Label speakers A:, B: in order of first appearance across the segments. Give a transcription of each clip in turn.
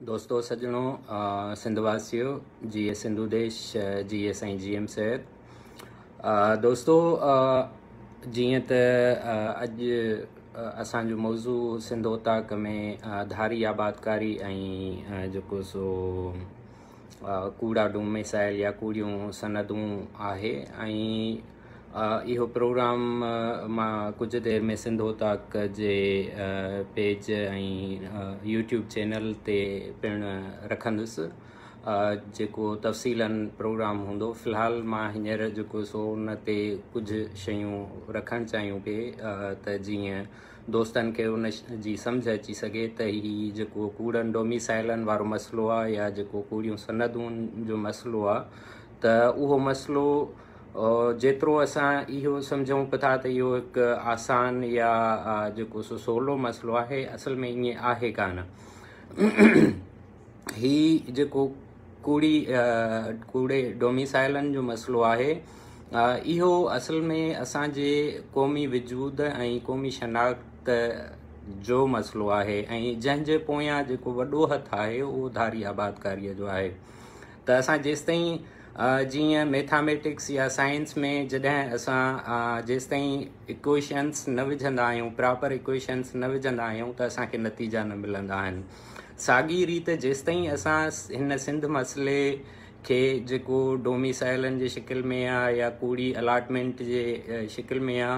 A: دوستو سڄڻو سنڌ واسيو جي اي سنڌو ديش جي اي سائين جي ايم سيد دوستو جيئن ته اڄ اسانجو موضوع سنڌ اوطاق ۾ ڌاري آبادڪاري ۽ جيڪو سو ڪوڙا ڊوميسائل يا ڪوڙيون سندون آهي ۽ اهو پروگرام مان ڪجهه دير ۾ سنڌو تاڪ جي پيج ۽ يوٽيوب چينل تي پڻ رکندس جيڪو تفصيلاً پروگرام هوندو في الحال مان هينئر جيڪو سو ان تي ڪجهه شيون رکڻ چاهيون پئي ته جيئن دوستن کي ان جي سمجهه اچي سگهي ته هي جيڪو ڪوڙن ڊوميسائلن وارو مسئلو آهي يا جيڪو ڪوڙيون سندون جو مسئلو آهي ته اهو مسئلو جيترو اسان اهو سمجهون به ٿا ته اهو هڪ آسان يا جيڪو سو سولو مسئلو آهي اصل ۾ ائين آهي ڪانه هي جيڪو ڪوڙي ڪوڙي ڊوميسائلن جو مسئلو آهي اهو اصل ۾ اسانجي قومي وجود ۽ قومي شناخت جو مسئلو آهي ۽ جنهن جي پويان جيڪو وڏو هٿ آهي اهو ڌاري آبادڪاريء جو آهي ته اسان جيستائين جيئن ميٿاميٽڪس يا سائنس ۾ جڏهن اسان جيستائين اڪويشنس نه وجهندا آهيون پراپر اڪويشنس نه وجهندا آهيون ته اسانکي نتيجا نه ملندا آهن ساڳي ريت جيستائين اسان هن سنڌ مسئلي کي جيڪو ڊوميسائلن جي شڪل ۾ آ يا ڪوڙي الاٽمينٽ جي شڪل ۾ آ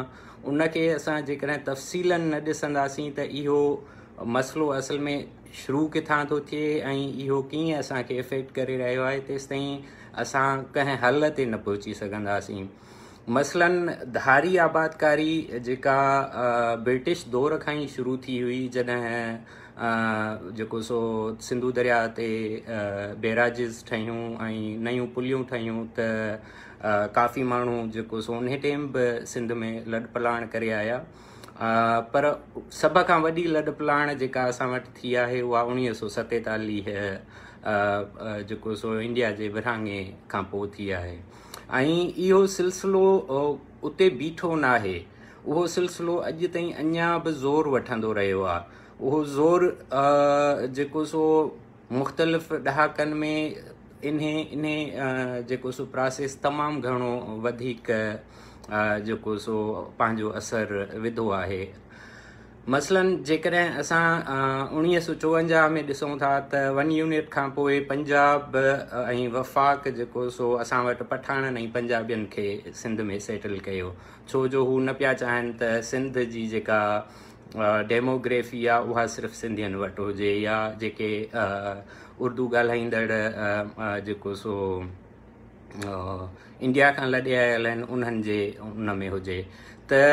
A: ان کي اسان جيڪڏهن تفصيلن نه ڏسنداسين ته اهو مسئلو اصل ۾ شروع ڪٿان ٿو ٿئي ۽ اهو ڪيئن اسان کي افيڪٽ ڪري رهيو آهي تيستائين اسان ڪنهن حل تي نه پهچي سگهنداسين مثلاً ڌاري آبادڪاري جيڪا برٽش دور کان ئي شروع ٿي هئي جڏهن جيڪو سو سنڌو درياء تي بيراجز ٺهيون ۽ نيون پليون ٺهيون ته ڪافي ماڻهو جيڪو سو ان ٽيم به سنڌ ۾ لڏ پلاڻ ڪري آيا پر سڀ کان وڏي لڏ پلاڻ جيڪا اسان وٽ ٿي آهي اها اڻيويھ سو ستيتاليھ جيڪو سو انڊيا جي ورهاڱي کان پوء ٿي آهي ۽ اهو سلسلو اتي بيٺو ناهي، اهو سلسلو اڄ تائين اڃا به زور وٺندو رهيو آهي. اهو زور جيڪو سو مختلف ڏهاڪن ۾ انهي انهي جيڪو سو پراسيس تمام گهڻو وڌيڪ جيڪو سو پنهنجو اثر وڌو آهي. مثلاً جيڪڏهن اسان اوڻيهه سؤ چوونجاهه ۾ ڏسون ٿا ته ون يونٽ کان پوء پنجاب ۽ وفاق جيڪو سو اسان وٽ پٺاڻن ۽ پنجابين کي سنڌ ۾ سيٽل ڪيو ڇو جو هو نه پيا چاهن ته سنڌ جي جيڪا ڊيموگريفي آ اها صرف سنڌين وٽ هجي يا جيڪي اردو ڳالهائيندڙ جيڪو سو انڊيا کان لڏي آيل آهن انهن جي ان ۾ هجي ته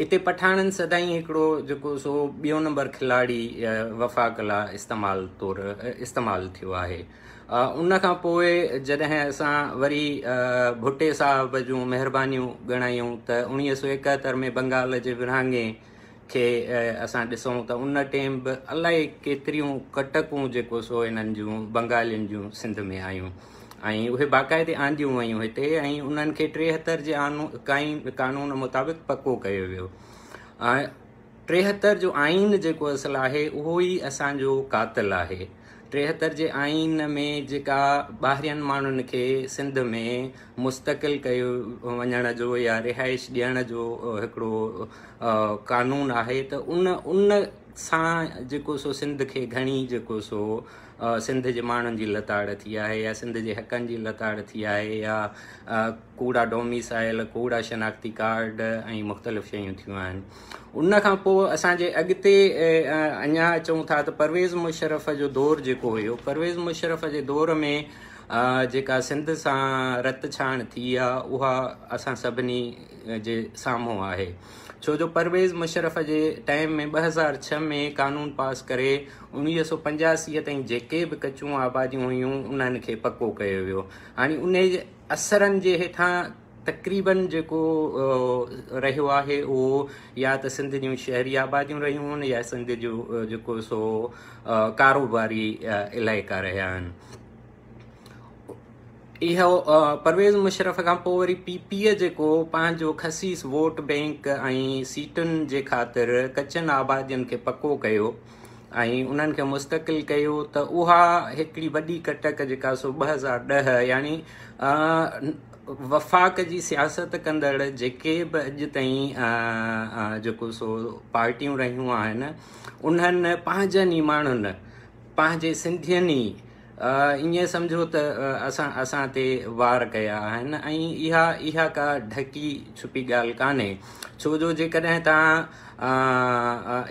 A: اتي پٺاڻن سدائين هڪڙو جيڪو سو ٻيون نمبر کلاڙي وفاق لا استعمال طور استعمال ٿيو آهي ان کان پوء جڏهن اسان وري ڀٽي صاحب جون مهربانيون ڳڻايون ته اڻيويھ سو ايڪهتر ۾ بنگال جي ورهاڱي کي اسان ڏسون ته ان ٽيم به الائي ڪيتريون ڪٽڪون جيڪو سو انهن جون بنگالين جون سنڌ ۾ آيون ۽ اهي باقاعدي آنديون ويون هتي ۽ انهن کي ٽيهتر جي آئين قانون مطابق پڪو ڪيو ويو ٽيهتر جو آئين جيڪو اصل آهي اهو ئي اسان جو قاتل آهي ٽيهتر جي آئين ۾ جيڪا ٻاهرين ماڻهن کي سنڌ ۾ مستقل ڪيو وڃڻ جو يا رهائش ڏيڻ جو هڪڙو قانون آهي ته ان ان سان جيڪو سو سنڌ کي گهڻي جيڪو سو سنڌ جي ماڻهن جي لتاڙ ٿي آهي يا سنڌ جي حقن جي لتاڙ ٿي آهي يا ڪوڙا ڊوميسائل ڪوڙا شناختي ڪارڊ ۽ مختلف شيون ٿيون آهن ان کان پوء اسان جي اڳتي اڃا اچون ٿا ته پرويز مشرف جو دور جيڪو هيو پرويز مشرف جي دور ۾ جيڪا سنڌ سان رت ڇاڻ ٿي آهي اها اسان سڀني جي سامهون آهي ڇو جو پرويز مشرف جي ٽائيم ۾ ٻه هزار ڇهه ۾ قانون پاس ڪري اوڻويهه سؤ پنجاسي تائين جيڪي به ڪچون آباديون هيون انهن کي پڪو ڪيو ويو هاڻي انهي جي اثرن جي هيٺان تقريبن جيڪو رهيو آهي اهو يا ته سنڌ جون شهري آباديون رهيون آهن يا سنڌ جو جيڪو سو ڪاروباري علائقا رهيا آهن اهو پرويز مشرف کان پوء وري پي پي جيڪو پنهنجو خصيص ووٽ بئنڪ ۽ سيٽن جي خاطر ڪچن آبادين کي پڪو ڪيو ۽ انهن کي مستقل ڪيو ته اها هڪڙي وڏي ڪٽڪ جيڪا سو ٻه هزار ڏهه يعني وفاق جي سياست ڪندڙ جيڪي به اڄ تائين جيڪو سو پارٽيون رهيون آهن انهن پنهنجن ئي ماڻهن پنهنجي سنڌين ئي ائين سمجهو ته اسان اسان تي وار ڪيا آهن ۽ اها اها ڪا ڍڪي ڇپي ڳالهه ڪانهي ڇو جو جيڪڏهن توهان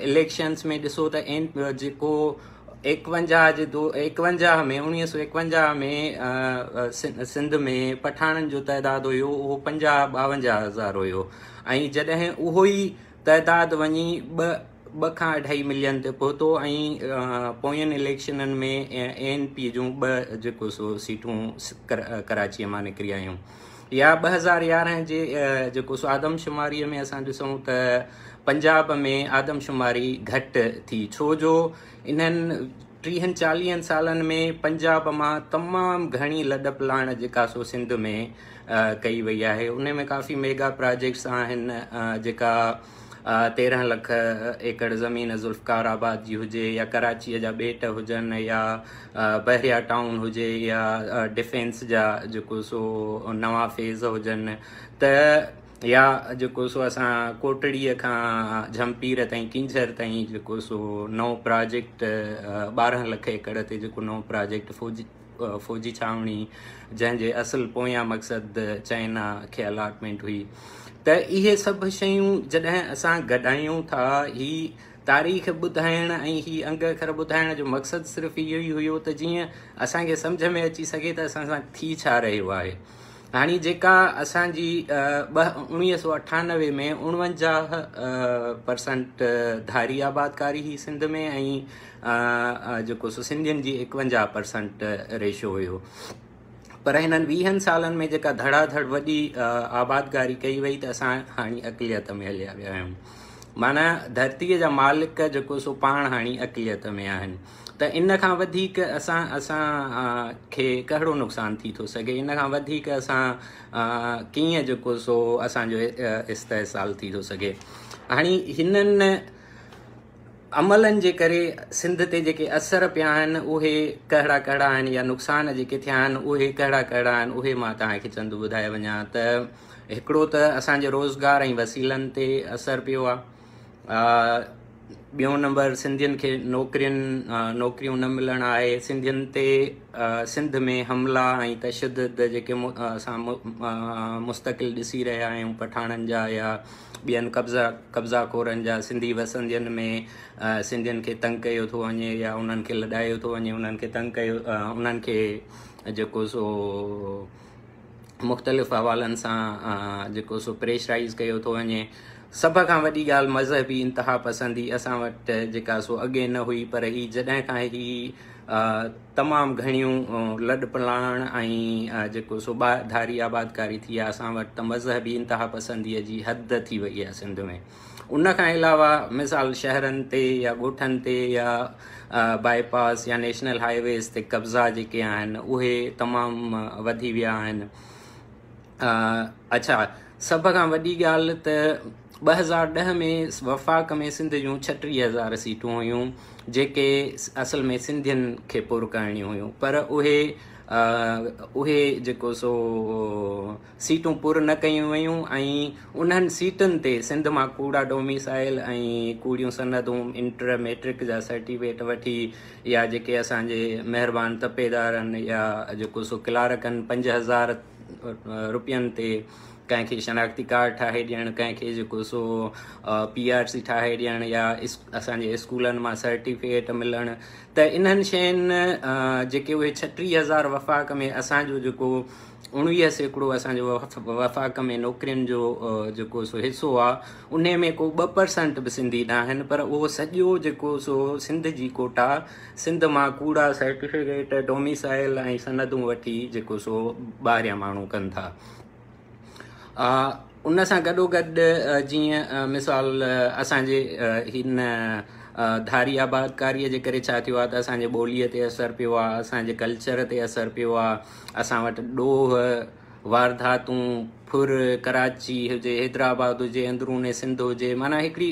A: اليڪشنس ۾ ڏسو ته اين جيڪو ايڪونجاهه جي دو ايڪونجاهه ۾ اڻويهه سو ايڪونجاهه ۾ سنڌ ۾ پٺاڻن جو تعداد هيو اهو پنجاهه ٻاونجاهه هزار هيو ۽ جڏهن اهو ئي تعداد وڃي ٻه ٻه کان اڍائي ملين تي پهتو ۽ پوين اليڪشنن ۾ اي اين پي جون ٻه جيڪو سو سيٽون ڪراچيء مان نڪري آيون يا ٻه هزار يارهن جي جيڪو سو آدمشماريء ۾ اسان ڏسون ته پنجاب ۾ آدمشماري گهٽ ٿي ڇو جو انهن ٽيهن چاليهن سالن ۾ پنجاب مان تمام گهڻي لڏپ لاڻ جيڪا سو سنڌ ۾ ڪئي وئي آهي ان ۾ ڪافي ميگا پراجيڪٽس آهن جيڪا تيرهن لک ايڪڙ زمين ذوالفقار آباد جي هجي يا ڪراچيء جا ٻيٽ هجن يا بحريا ٽائون هجي يا ڊفينس جا جيڪو سو نوان فيز هجن ته يا جيڪو سو اسان ڪوٽڙيء کان جھمپير تائين ڪينجھر تائين جيڪو سو نئون پراجيڪٽ ٻارهن لک ايڪڙ تي جيڪو نئون پراجيڪٽ فوجي فوجي ڇانوڻي جنهن جي اصل پويان مقصد چائنا کي الاٽمينٽ هئي ته اهي سڀ شيون جڏهن اسان گڏايون ٿا هي تاريخ ٻڌائڻ ۽ هي انگ اکر ٻڌائڻ جو مقصد صرف اهو ئي هيو ته جيئن اسان کي سمجھ ۾ اچي سگھي ته اسان سان ٿي ڇا رهيو آهي هاڻي جيڪا اسان جي انويهه سو اٺانوي ۾ اڻونجاهه پرسنٽ ڌاري آبادڪاري هي سنڌ ۾ ۽ جيڪو سو سنڌين جي ايڪونجاهه پرسنٽ ريشو هيو پر هنن ويهن سالن ۾ جيڪا ڌڙا ڌڙ وڏي آبادگاري ڪئي وئي ته اسان هاڻي اقليت ۾ هليا ويا آهيون مانا ڌرتيء جا مالڪ جيڪو سو پاڻ هاڻي اقليت ۾ آهن ته ان کان وڌيڪ اسان اسان کي ڪهڙو نقصان ٿي ٿو سگهي ان کان وڌيڪ اسان ڪيئن جيڪو سو اسانجو استحصال ٿي ٿو سگهي هاڻي هنن عملن جي ڪري سنڌ تي جيڪي اثر پيا آهن اهي ڪهڙا ڪهڙا آهن يا نقصان جيڪي ٿيا آهن اهي ڪهڙا ڪهڙا آهن اهي مان توهان کي چند ٻڌائي وڃان ته هڪڙو ته اسان جي روزگار ۽ وسيلن تي اثر پيو آهي ٻيون نمبر سنڌين کي نوڪرين نوڪريون نه ملڻ آهي سنڌين تي سنڌ ۾ حملا ۽ تشدد جيڪي اسان مستقل ڏسي رهيا آهيون پٺاڻن جا يا ٻين قبضا قبضا خورن جا سنڌي وسندين ۾ سنڌين کي تنگ ڪيو ٿو وڃي يا انهن کي لڏايو ٿو وڃي انهن کي تنگ ڪيو انهن کي جيڪو سو مختلف حوالن سان جيڪو سو پريشرائز ڪيو ٿو وڃي سڀ کان وڏي ڳالهه مذهبي انتها پسندي اسان وٽ جيڪا سو اڳي نه هئي پر هي جڏهن کان هي تمام گهڻيون لڏ پلاڻ ۽ جيڪو سو ٻاهر ڌاري آبادڪاري ٿي آهي اسان وٽ ته مذهبي انتها پسندي جي حد ٿي وئي آهي سنڌ ۾ ان کان علاوه مثال شهرن تي يا ڳوٺن تي يا باء پاس يا نيشنل هاء ويز تي قبضا جيڪي آهن اهي تمام وڌي ويا آهن اڇا سڀ کان وڏي ڳالهه ته ٻه هزار ڏهه ۾ وفاق ۾ سنڌ جون ڇٽيهه هزار سيٽون هيون جيڪي اصل ۾ سنڌين کي پر ڪرڻيون هيون پر اهي اهي جيڪو سو سيٽون پر نه ڪيون ويون ۽ انهن سيٽن تي سنڌ مان ڪوڙا ڊوميسائل ۽ ڪوڙيون سندون انٽر ميٽرڪ جا سرٽيفڪيٽ وٺي يا جيڪي اسان جي مهربان تپيدارن يا جيڪو سو ڪلارڪن پنج هزار روپين تي ڪنهن کي شناختي ڪارڊ ٺاهي ڏيڻ ڪنهن کي جيڪو سو پي آر سي ٺاهي ڏيڻ يا اسانجي اسڪولن مان سرٽيفڪيٽ ملڻ ته انهن شين جيڪي اهي ڇٽيهه هزار وفاق ۾ اسانجو جيڪو اڻويهه سيڪڙو اسانجو وفاق ۾ نوڪرين جو جيڪو سو حصو آهي ان ۾ ڪو ٻه پرسنٽ به سنڌي نه آهن پر اهو سڄو جيڪو سو سنڌ جي کوٽا سنڌ مان ڪوڙا سرٽيفڪيٽ ڊوميسائل ۽ سندون وٺي جيڪو سو ٻاهريان ماڻهو ڪن ٿا ان سان گڏوگڏ جيئن مثال اسان جي هن ڌاري آبادڪاريء جي ڪري ڇا ٿيو آهي ته اسان جي ٻوليء تي اثر پيو آهي اسان جي ڪلچر تي اثر پيو آهي اسان وٽ ڏوهه وارداتون ڦر ڪراچي هجي حيدرآباد هجي اندروني سنڌ هجي معنيٰ هڪڙي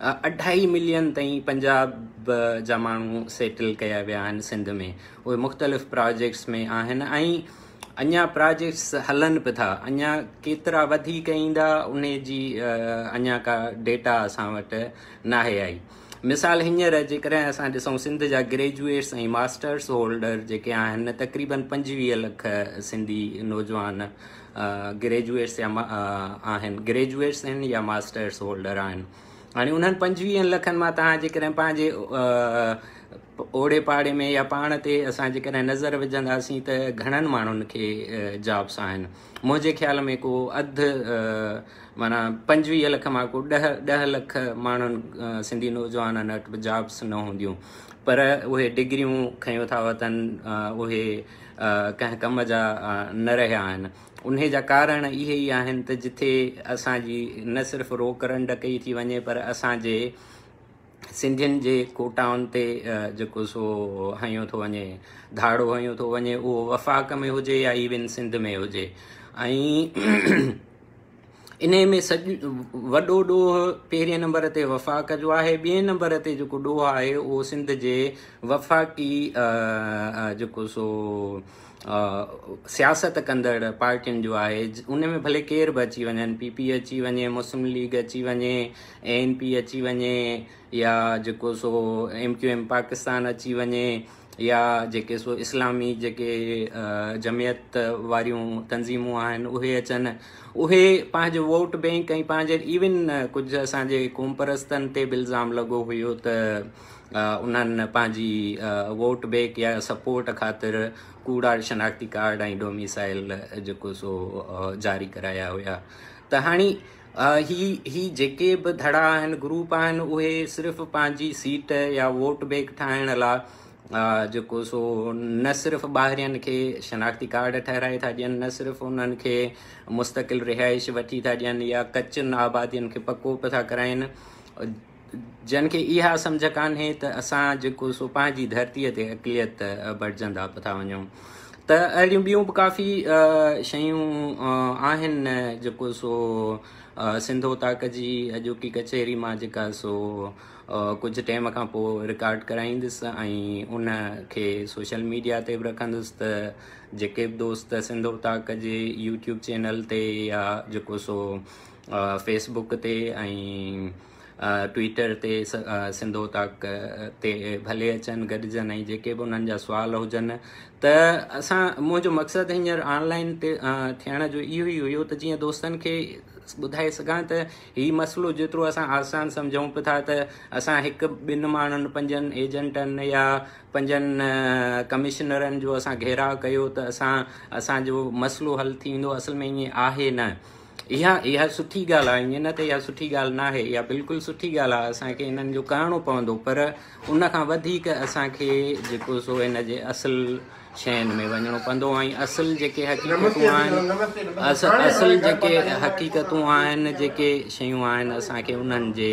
A: اڍائي ملين تائين پنجاب جا ماڻهو سيٽل ڪيا ويا آهن سنڌ ۾ اهي مختلف پراجيڪٽس ۾ آهن ۽ اڃا پراجيڪٽس هلن به ٿا اڃا ڪيترا وڌيڪ ايندا ان جي اڃا ڪا ڊيٽا اسان وٽ ناهي آئي مثال هينئر جيڪڏهن اسان ڏسون سنڌ جا گريجويٽس ۽ ماسٽرس هولڊر جيڪي آهن تقريبن پنجويهه لک سنڌي نوجوان گريجوئيٽس يا آهن گريجوئيٽس آهن يا ماسٽرس هولڊر آهن هاڻي انهن پنجويهن لکن مان توهان جيڪڏهن پنهنجي اوڙي پاڙي ۾ يا پاڻ تي اسان جيڪڏهن نظر وجهنداسين ته گهڻن ماڻهن کي جابس آهن منهنجي خيال ۾ ڪو اڌ مانا پنجويهه لک مان ڪو ڏه ڏه لک ماڻهن سنڌي نوجوانن وٽ به جابس نه هونديون پر اهي ڊگريون کنيو ٿا وتن اهي ڪنهن ڪم جا نه رهيا آهن. انهي جا ڪارڻ اهي ئي آهن ته جتي اسان جي نه صرف روڪ رنڊ ڪئي ٿي وڃي پر اسان جي سنڌين جي ڪوٽائن تي جيڪو سو هنيو ٿو وڃي ڌاڙو هنيو ٿو وڃي اهو وفاق ۾ هجي يا ايون سنڌ ۾ هجي ۽ انهيء ۾ سڄ وڏو ڏوهه پهرين نمبر تي وفاق جو آهي ٻئي نمبر تي جيڪو ڏوهه آهي اهو سنڌ جي وفاقي جيڪو سو سياست ڪندڙ پارٽين جو آهي ان ۾ ڀلي ڪير به اچي وڃن پي پي اچي وڃي مسلم ليگ اچي وڃي اي اين پي اچي وڃي يا جيڪو سو ايم ڪيو ايم پاڪستان اچي وڃي يا جيڪي سو اسلامي جيڪي جمعيت واريون تنظيمون آهن اهي اچن اهي پنهنجو ووٽ بينڪ ۽ پنهنجي ايون ڪجهه اسان جي قوم پرستن تي به الزام لڳو هيو ته انهن پنهنجي ووٽ بينڪ يا سپورٽ خاطر ڪوڙا شناختي ڪارڊ ۽ ڊوميسائل جيڪو سو جاري ڪرايا هيا ته هاڻي هي هي جيڪي به ڌڙا آهن گروپ آهن اهي صرف پنهنجي سيٽ يا ووٽ بينڪ ٺاهڻ لا جيڪو سو نه صرف ٻاهرين کي شناختي ڪارڊ ٺهرائي ٿا ڏين نه صرف انهن کي مستقل رهائش وٺي ٿا ڏين يا ڪچن آبادين کي پڪو به ٿا ڪرائين جن کي اها سمجهه ڪانهي ته اسان جيڪو سو پنهنجي ڌرتيء تي اقليت بڻجندا پتا وڃون ته اهڙيون ٻيون به ڪافي شيون آهن جيڪو سو سنڌو تاڪ جي اڄوڪي ڪچهري مان جيڪا سو ڪجهه ٽائم کان پوء رڪارڊ ڪرائيندس ۽ ان کي سوشل ميڊيا تي به رکندس ته جيڪي به دوست سنڌو تاڪ جي يوٽيوب چينل تي يا جيڪو سو فيس بوڪ تي ۽ ٽوئيٽر تي سنڌو تاڪ تي ڀلي اچن گڏجن ۽ جيڪي به انهن جا سوال هجن ته اسان منهنجو مقصد هينئر آنلائن تي ٿيڻ جو اهو ئي هيو ته جيئن دوستن کي ٻڌائي سگهان ته هي مسئلو جيترو اسان آسان سمجھون پيا ٿا ته اسان هڪ ٻن ماڻهن پنجن ايجنٽن يا پنجن ڪمشنرن جو اسان گهيراء ڪيو ته اسان اسانجو مسئلو حل ٿيندو اصل ۾ ائين آهي نه اها اها سٺي ڳالهه آهي ائين نه ته اها سٺي ڳالهه ناهي اها بلڪل سٺي ڳالهه آهي اسان کي انهن جو ڪرڻو پوندو پر ان کان وڌيڪ اسان کي جيڪو سو ان جي اصل شين ۾ وڃڻو پوندو ۽ اصل جيڪي حقيقتون آهن اصل جيڪي حقيقتون آهن جيڪي شيون آهن اسان کي انهن جي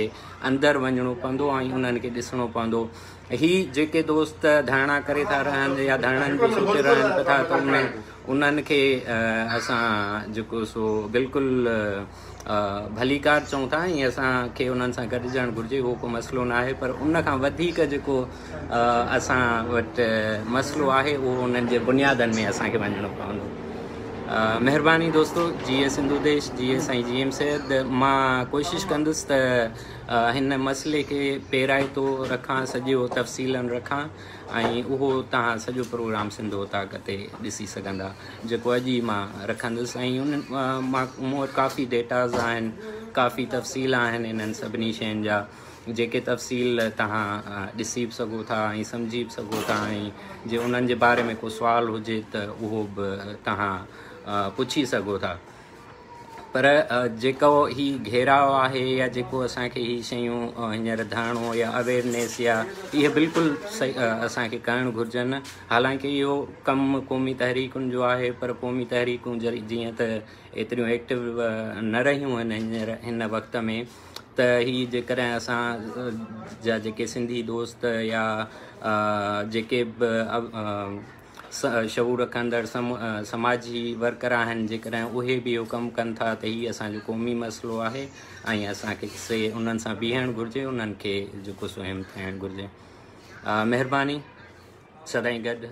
A: اندر وڃڻو پوندو ۽ انهن کي ڏسڻو پوندو هي جيڪي دوست ڌرڻا ڪري ٿا رهن يا ڌرڻن جو سوچي رهن به ٿا ته ان ۾ انهن کي اسان جيڪو سو بلڪل ڀليڪار چئون ٿا ۽ اسان کي انهن سان گڏجڻ گهرجي اهو ڪو مسئلو نه آهي پر ان کان وڌيڪ جيڪو اسان وٽ مسئلو آهي اهو انهن جي بنيادن ۾ اسان کي وڃڻو پوندو مهرباني دوستو جي اي سنڌو ديش جي اي سائين جي ايم سيد مان ڪوشش ڪندس ته هن مسئلي کي پيرائتو رکان سڄو تفصيلن رکان ۽ اهو توهان سڄو پروگرام سنڌ اوطاق تي ڏسي سگهندا جيڪو اڄ ئي مان رکندس ۽ ان مان مون وٽ ڪافي ڊيٽاز آهن ڪافي تفصيل آهن انهن سڀني شين جا جيڪي تفصيل توهان ڏسي به سگهو ٿا ۽ سمجهي به سگهو ٿا ۽ جي انهن جي باري ۾ ڪو سوال هجي ته اهو به توهان پڇي سگهو ٿا پر جيڪو هي گهيراء آهي يا جيڪو اسان کي هي شيون هينئر ڌياڻو يا اويرنيس يا اهي بلڪل اسان کي ڪرڻ گهرجن حالانڪه اهو ڪم قومي تحريڪن جو آهي پر قومي تحريڪون جيئن ته ايتريون ايڪٽو نه رهيون آهن هينئر هن وقت ۾ ته هي جيڪڏهن اسان جا جيڪي سنڌي دوست يا جيڪي به شعور رکندڙ سماجي ورڪر آهن جيڪڏهن اهي به اهو ڪم ڪن ٿا ته هي اسان جو قومي مسئلو آهي ۽ اسان کي سي انهن سان بيهڻ گهرجي انهن کي جيڪو سو هم ٿائڻ گهرجي مهرباني سدائين گڏ